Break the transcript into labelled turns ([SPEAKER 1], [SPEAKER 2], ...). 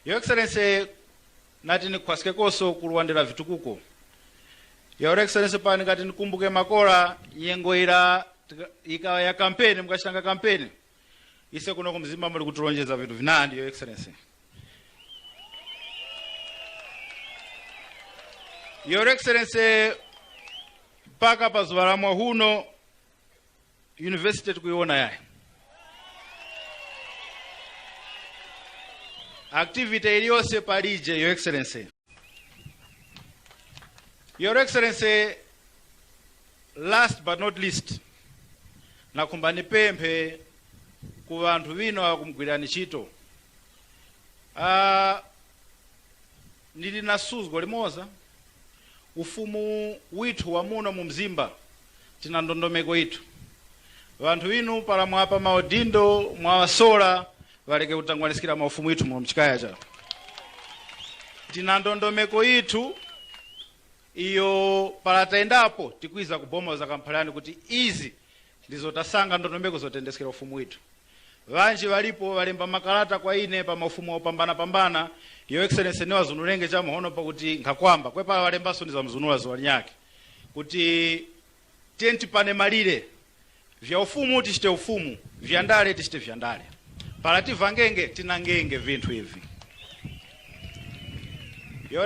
[SPEAKER 1] Your Excellency, nati nikhwaskekonso ku lwande la vitukuko. Your Excellency, pani ngati nikumbuke makola nyengo ira yikawa ya kampeni mukachitanga kampeni ise kuno kumzimba muli kutilonjeza vinthu vinandi Your Excellency. Your Excellency, mpaka pa zuwa la mwahuno university tikuiona yayi activity iliyonse palije your excellency your excellency last but not least nakhumba nipemphe ku wanthu winu wakumgwirirani ntchito uh, Nili na suzgo limoza ufumu withu wa muno mu Mzimba tina ndondomeko yithu. Banthu winu pala mwapa maudindo mwawasola baleke kutangwaniskila maufumu yithu muno mchikaya cha. Tina ndondomeko yithu iyo pala taendapo tikwiza ku boma zakamphalirani kuti izi Ndizo tasanga ndondomeko zotendeskera ufumu withu. Wanji walipo walemba makalata kwa ine pa maufumu opambana pambana, Your Excellency niwazunulenge ca mahono pakuti nkhakwamba. Kwe pala walembaso nizamzunula zuwa linyake kuti tiyeni tipane malile, vya ufumu ticite ufumu, vya ndale ticite vya ndale. Pala tivangenge, tinangenge vinthu ivi.